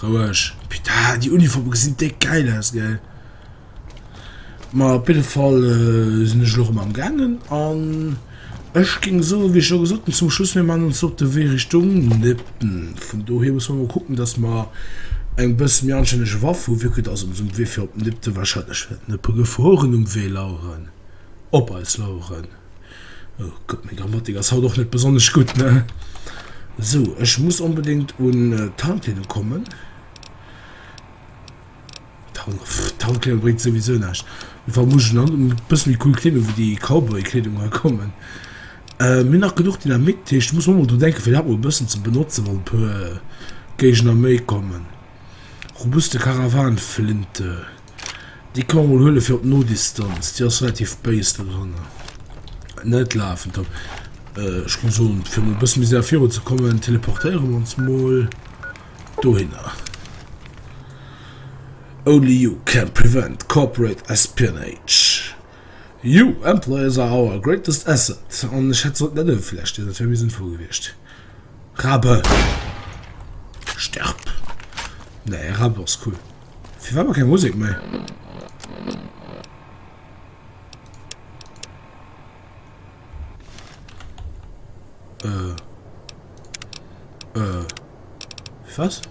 Roueg. Putain, déi Uniformen gesinn déck gäil aus, gell? Ma op jidde Fall sinn ech elo erëm am gaangen an ech géing soen, wéi ech scho gesot hunn, zum Schluss, mir maachen ons op de Wee Richtung Nëppen. Vun dohier musse mer mol kucken, dass mer eng bësse méi anstänneg Waff hunn, vu que dass ons um Wee fir op Nëppen wahrscheinlech wäerten Nëppe gefuer hunn, um Wee laueren, op eis laueren. Oh Gott, meng Grammatik ass haut och net besonnesch gutt, ne? So, ech muss onbedéngt un äh, d'Handleedung kommen. D'Handleedung bréngt souwisou näischt. Wa muss ech an e bësse méi cool Kleedung wéi déi Cowboy-Kleedung hei kommen. Äh, mir nach genuch Dynamit, dat heescht, ech muss och mol dru denken, fir dat mol e bëssen ze benotzen, wann e puer Géigner méi kommen. Robuste Karawanflinte. Déi kann mol huele fir op d'No-Distanz, déi ass relativ béis do dranner. Net lafen top. Äh, ech muss soen, fir mol e bësse méi séier viru ze kommen, teleportéiere mer ons mol dohinner. Only you can prevent corporate espionage. You employees are our greatest asset. An ech hätt sollt net ewë vläch dinn, dat wär méi sënnvoll gewiescht. Rabe! Sterb! Nee, Rabe ass cool. Fir wat mer keng Musek méi? Äh. Äh. Was?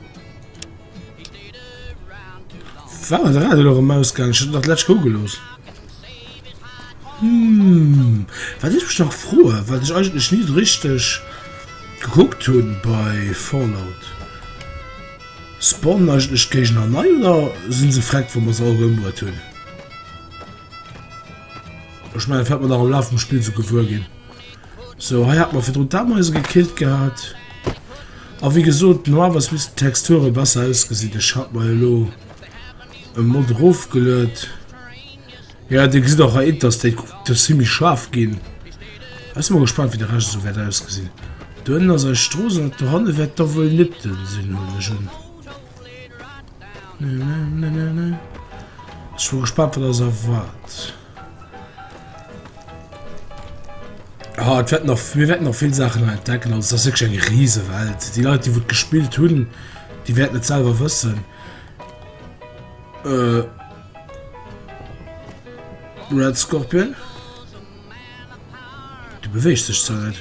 War de Radio lo rem ausgaangen? Ech hat nach d'lescht gougel looss. Hm. Wat ech mech nach froe, wat ech eigentlech ni esou richteg gekuckt hunn bei Fallout. Spawnen eigentlech d'Géigner nei oder sinn se vreckt wa mer se all erëmbruet hunn? Ech mengen dat wäert mer nach am Laf vum Spill sou gewuer ginn. Sou hei hat mer virdrun d'Ameise gekillt gehat. A wéi gesot normalerweis missten d'Texture besser ausgesinn. Ech hat mer elo e Mod erofgeluet. Ja dir gesitt och hei Interstate, kuckt ass zimmlech schaarf ginn. Ech si mol gespannt wéi de Rescht esou wäert ausgesinn. Do ënnen ass eis Strooss an dat do hanne wäert da wuel Nipton sinn huelen ech un. Ech si mol gespannt wat eis erwaart. Ah et wäert nach mir wäerten nach vill Saachen hei entdecken, also et ass wierklech eng riise Welt. Déi Leit déi wou et gespillt hunn, déi wäerten et selwer wëssen. Red Scorpion, de beweegt sech zwar net.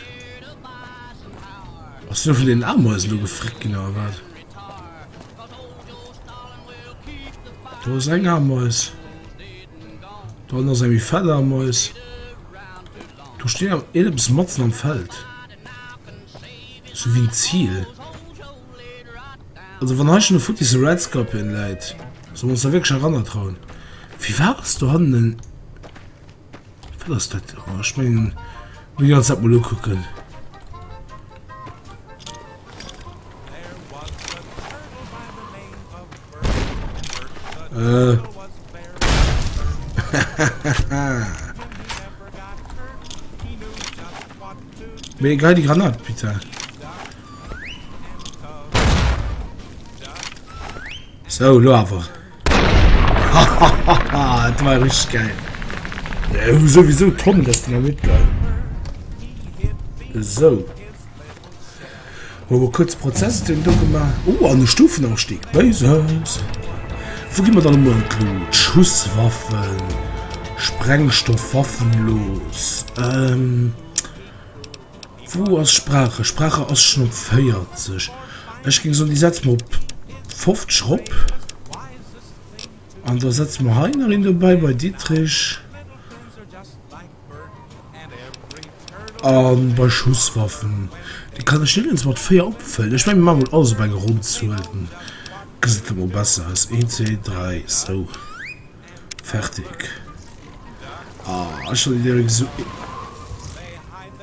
Ass du vun den Ameisen do gefréckt ginn oder wat? Do ass eng Ameis. Dann ass eng méi fett Ameis. Do steet awer een eppes matzen am Feld. Zu wien ziel also wann hei schon e futti se red scorpion läit soll mer ons da wierklech eranner trauen wéi war ass do hannen en wat ass dat oh ech mengen wéi ganz dat mol ukucken Äh. Mir egal die Granat, bitte. So, lo aber. Hahaha, das war richtig geil. Ja, sowieso Tom, das Dynamit geil. So. Hu e kuerze Prozess den do gemaach. Oh, an e Stufenaufstieg. Béises. Wou gi mer dann emol elo d'Schusswaffen, Sprengstoffwaffen los? Ähm. Wou ass Sprache? Sprache ass schonn op 40. Ech géing soen, déi setze mer op 50 erop. An da setze mer hei nach een dobäi bei Ditrich. An bei Schusswaffen, déi kann ech nirgends mat 4 opfëllen. Ech mengen mir maachen mol alles op eng ronn Zuel, dann gesäit dat mol besser aus. 1, 2, 3, sou. Fertig. Ah, ech hat direkt esou ee.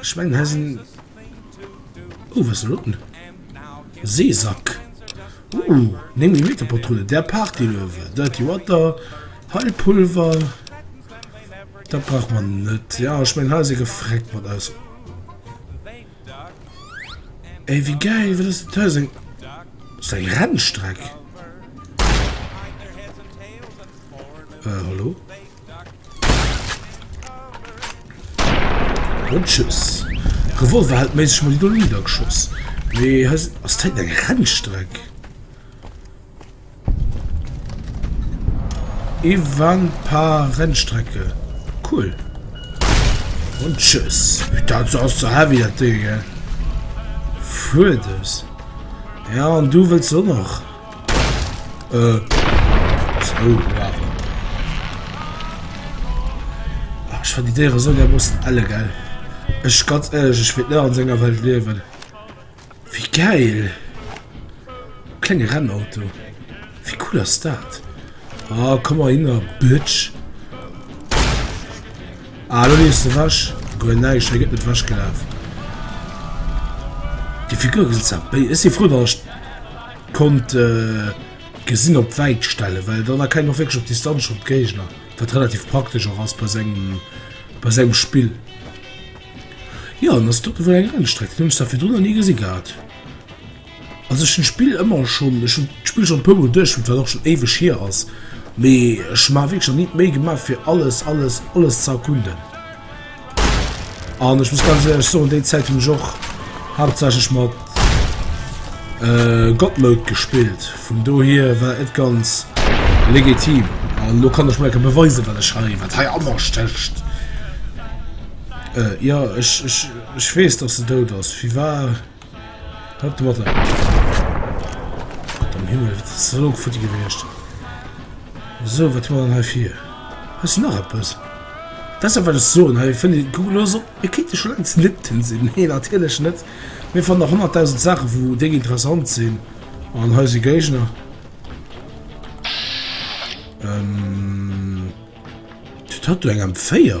Schweinghäsen oh wat ass elo den Seesack oh néng Millimeter Patrulle der Party elo awer Dirty Water Heilpulver dat brauch mer net jo ech mengen hei ass ee gefreckt mat eis ey wéi gäil wat ass dat hei ass eng ass dat eng Rennstreck hallo. Bon tschüss. Revolver hält méisseg mol do Lieder geschoss. Mee hei ass d'Zäit eng Rennstreck. Evan paar Rennstrecke. Cool. Und tschüss. Dat ass ze heavy dat Ding. Fuerdes. Ja, an du willst du noch. Äh, zwou Waffen. Ach, ich fand die Dere so dermaßen alle geil. Ich ganz ehrlich, ich will nicht an seiner Welt leben. Wie geil! Kleine Rennauto. Wie cool ist das? Ah, oh, komm mal hin, Bitch. Ah, du liest du was? Gut, nein, ich nicht was gelaufen. Die Figur ist ja. Ist sie froh, dass ich Konnt gesinn op wäit stellen, well dann erkennt och wierklech op Distanz schonn d'Géigner, wat relativ praktesch och ass bei sengem, bei sengem Spill. Jo an ass doppe wéi eng Rennstreck, hunn ech der virdrun nach ni gesi gehat. Also ech hunn d'Spill ëmmer schonn, ech hunn d'Spill schonn e puer mol duerchgespillt, wat och schonn éiweg hier ass, mee ech maache wierklech nach ni d'Méi gemaach fir alles, alles, alles ze erkunden. An ech muss ganz ehrlech soen, déi Zäit hunn ech och haaptsächlech mat äh, God Mode gespillt. Vun dohier war et ganz legitim. An lo kann ech mol enke beweisen, wat ech hei, wat hei anders stécht. Äh, ja, ech, ech, ech weess, dass se dout ass. Wie war... Hëlt Water. Gott am Himmel, wat ass elo futti gewiescht? Esou, wat hu mer dann hei fir? Hei ass nach eppes. Dat ass dat, wat ech soen. Hei fënnt ee, kuck elo esou, e kéint jo scho laang zlitten sinn. Nee, natierlech net. Mir fannen nach honnertdausend Saachen, wou déng interessant sinn. An hei si Géigner. Ähm. Wat huet do eng M4?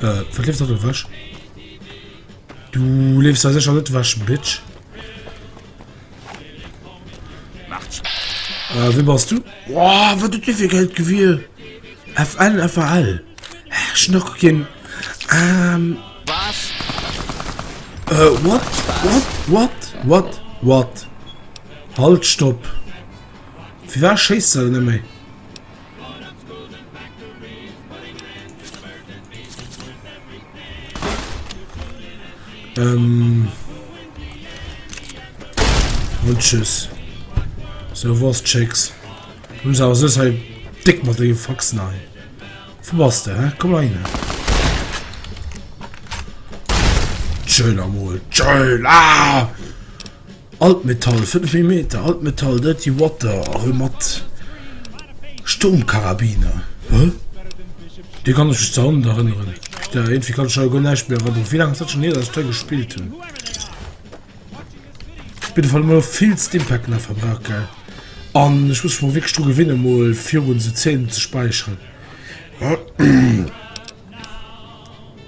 Äh, wat leeft dat do wech? Du leefst da secher net wech, Bitch. Äh, wie bass du? Wow, wat huet dir fir Geld gewier? FN, FAL. Äh, schnock ginn. Ähm... Was? Äh, what? What? What? What? What? Halt, stopp. Fir war schéisst se net méi? Ähm. Und tschüss. So was Chicks. Nun sag so sei dick mal den Fox nein. Wo warst du, hä? Komm mal rein. Schön am Mol. Schön. Ah! Altmetall 5 mm Altmetall Dirty Water erëm mat Sturmkarabiner hä dee kann ech mech ze Hand erënneren da irgendwie kann ech hei guer näischt méi erënneren wéi laang ass dat schonn hier dat ech dei gespillt hunn op jidde Fall mol vill Stimpacken a verbraucht gell an ech muss mech mol wierklech dru gewinne mol virun se 10 ze speicheren.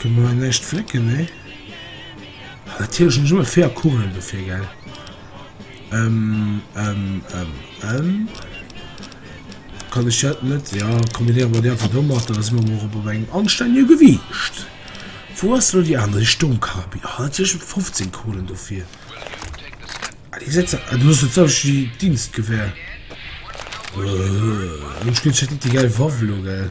Kënne mer hei näischt flécken? Nee. Ah, natierlech net. Ech hu e Féier Kugelen dofir, gell? Kann ech dat net, ja, kombinéiere mer déi einfach domat. Da si mer mol erëm op engem anstännege Gewiicht. Wou ass elo déi aner, déi Stommkarabiner? Ah, natierlech hu mer 15 Kugelen dofir. Ah, déi setze, ah, du hues jo d'selwecht wéi d'Dienstgewehr. Ech hunn net déi gäil Waff elo, gell?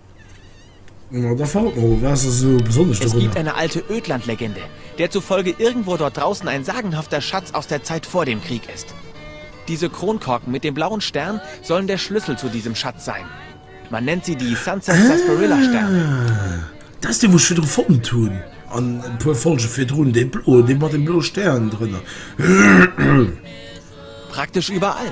Na, da verrot mol, wat ass esou besonnesch dorunner? Es gibt eine alte Ödlandlegende, der zufolge irgendwo dort draußen ein sagenhafter Schatz aus der Zeit vor dem Krieg ist. Diese Kronkorken mit dem blauen Stern sollen der Schlüssel zu diesem Schatz sein. Man nennt sie die Sunset Sarsaparilla Sterne. Ah, dat ass dee, wou ech virdru fonnt hunn, an e puer Folge virdrun, dee bloen, dee mat deem bloe Stern drënner. Praktesch überall.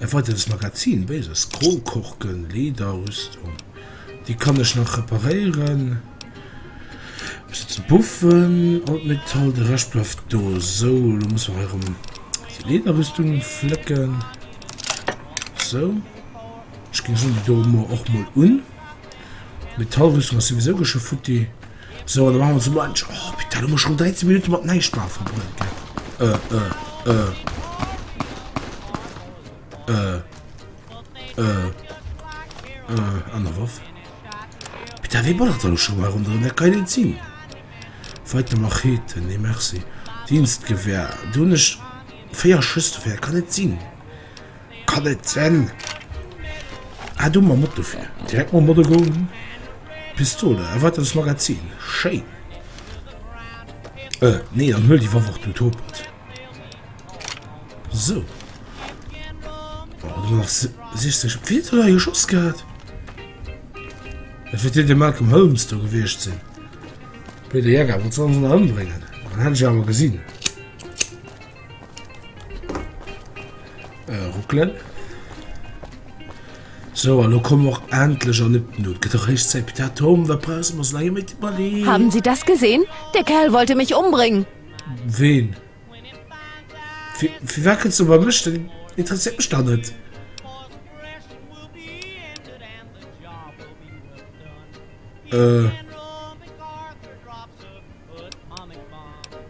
E weideres Magazin, béiser Scroll, Korken, Leeder, Rüstung, déi kann ech nach reparéieren, ech setzen Puffen an d'Metall, de Rescht bleift do. Sou, elo muss mer hei erëm déi Leederrüstung flécken, sou, ech géing soen, déi doe mer och mol un, d'Metallrüstung ass souwisou ge scho futti. Sou, an da maache mer esou muench. Oh, putain, elo hu mer schonn 13 Minutte mat Näischtmaache verbruecht, gell? Äh, äh, äh. Äh, äh, äh. Aner Waff. Putain, wéi ballert elo schonn hei ronderëm? Dat ka jo net sinn. Weiter Machete. Nee, merci. Dienstgewehr. Do hunn ech véier Schëss dofir. Dat ka net sinn. Kann net sen! Ah do mam Moto fir direkt mam Moto goen Pistole erweitert Magazin schéin euh nee dann huel déi Waff och du topert sou Boah do machs de 60 op wien huet hei geschoss gehat? Dat wär deen de Malcolm Holmes do gewiescht sinn Blöde Jäger wollt se ons ëmbréngen an hätt ech awer gesinn. Äh, ruckelen. Sou, an elo komme mer och endlech an Epden un. Et gëtt och héich Zäit. Petit hat Honger, da brausse mer eis laang méi ze iwwerleeën. Haben Sie das gesehen? Der Kerl wollte mich umbringen! Ween? Fir, firwat kënns du bei mech? Dat interesséiert mech dach net! Äh.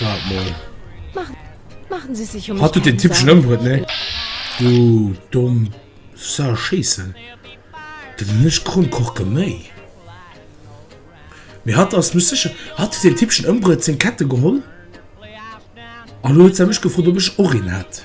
Wart mol. Machen, machen Sie sich um Hat du den Typ schon ëmbruet, ne? Du domm Sa Scheissen. Dat hun ech krumm Koch geméi. Mee hat ass mech sécher. Hat den Typ schon ëmbruet seng Kette geholl? An elo huet se mech gefrot, ob ech och een hätt.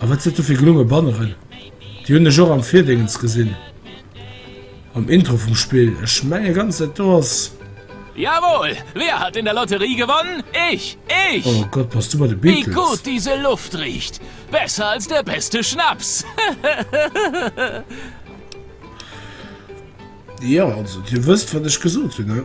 A wat sot do fir gelonge Banneren? Déi hunn ech och am Virdéngens gesinn, am Intro vum Spill. Ech menge ganz, dat do ass. Jawohl! Wer hat in der Lotterie gewonnen? Ich! Ich! Oh Gott, pass du bei de Beatles. Wie gut diese Luft riecht! Besser als der beste Schnaps! Jo, also, Dir wësst, wat ech gesot hunn, ne?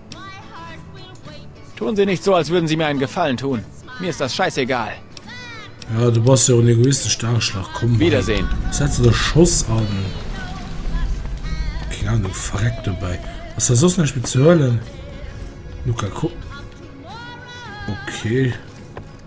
Tun Sie nicht so, als würden Sie mir einen Gefallen tun. Mir ist das scheißegal. Ja, du bass jo en egoistesch Dageschlag, komm. Wiedersehen. Setz de Schoss an. Keng Ahnung, verreck dobäi. Ass da soss näischt méi ze huelen? Luka, kuck. Okay.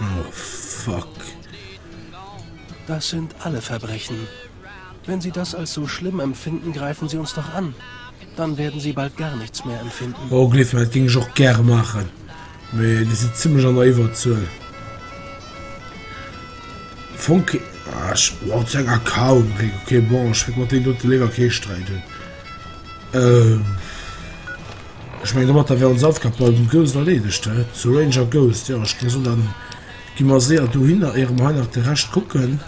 Oh fuck. Das sind alle Verbrechen. Wenn sie das als so schlimm empfinden, greifen sie uns doch an. Dann werden sie bald gar nichts mehr empfinden. Oh, gleef mir, dat géing ech och gäre maachen. Mee déi si zimmlech an der Iwwerzuel. Fonke. Ah, ech. Wow, zu enger Kaul gekritt. Okay, bon, ech wäert mat deenen dote léiwer kee Sträit hunn. Euh. Ech mengen domatter wär ons Aufgab bei dem Ghost erleedegt, hä? Zu Ranger Ghost, jo, ech ginn esou, dann gi mer séier dohinner, éiere mer hei nach de Rescht kucken.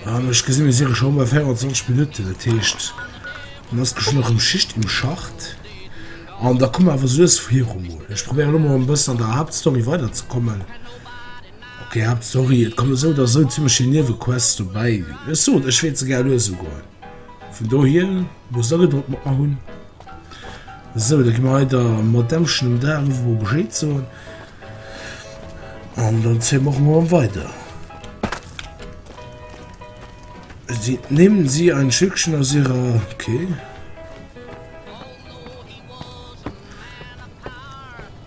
An ech gesinn, mir si reng scho bei 24 Minutten, dat heescht, dann ass bestimmt nach erëm Schicht im Schacht. An da komme mer awer souess viru mol. Ech probéiere elo mol e bëssen an der Haaptstory weiderzekommen. Okay, Haaptstory, et kommen esou oder esou zimmlech vill Niewequests dobäi. Ech soen, ech wäert se gär lues ugoen. Vun dohier, wou se da gedroppt mat mer hunn. Sou, da gi mer weider mat Dauschen um Dag, einfach mol Bescheed soen an dann zéie mer och mol weider. Sie, nehmen Sie ein Stückchen aus Ihrer, okay.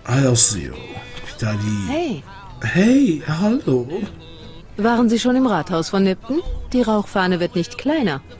Hei ass se jo, da déi. Hey! Hey, hallo! Waren Sie schon im Rathaus von Nipton? Die Rauchfahne wird nicht kleiner.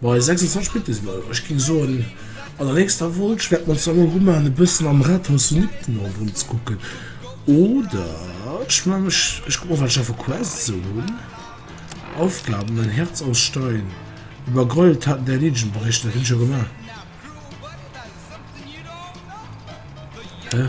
Bei 26 spillt dëse Ball. Ech géing soen an der nächster Vol schwäert mer ons dann emol ru maachen e bëssen am Rathaus vun Ipten ronderëm ze kucken oder ech man mech ech kuck mol wat ech a vu Quests sou hunn. Aufgaben, ein Herz aus Stein, über Gräueltaten der Legion berichten, dat hunn ech jo gemaach. Hä?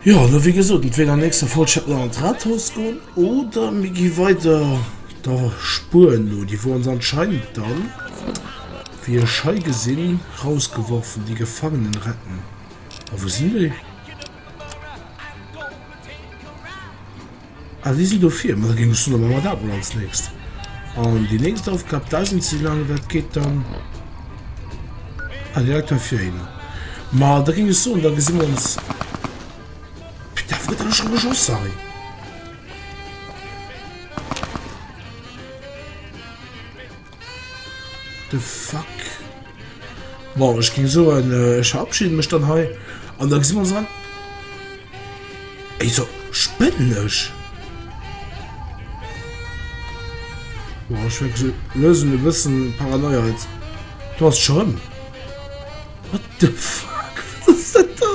Jo, elo wéi gesot, entweder nächste Vollcheck no an d'Rathaus goen oder mir gi weider der Spur no. Déi wor ons anscheinend dann, wéi ech hei gesinn, rausgeworfen, déi Gefangenen retten. A wou sinn déi? A si sinn dofir, mä da géing ech soen, da maache mer dat emol als Nächst. An déi nächst Aufgab, da sinn si laang, dat geet dann direkt heifiriwwer. Mä da géing ech soen, da gesi mer ons, mee d'Af gëtt awer scho gejoss, Harry. The fuck? Bon, ech ging so en äh, verabschieden mech dann hei an da si man so. Ey, so spënnech. Boah, ich wirklich so lösen wir wissen Paranoia jetzt. Du hast schon. What the fuck? Was ist das da?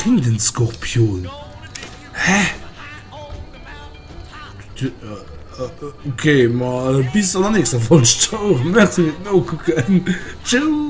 Riedenskorpion hä okay ma bis an der nächster folg. Merci no kucken tschüss.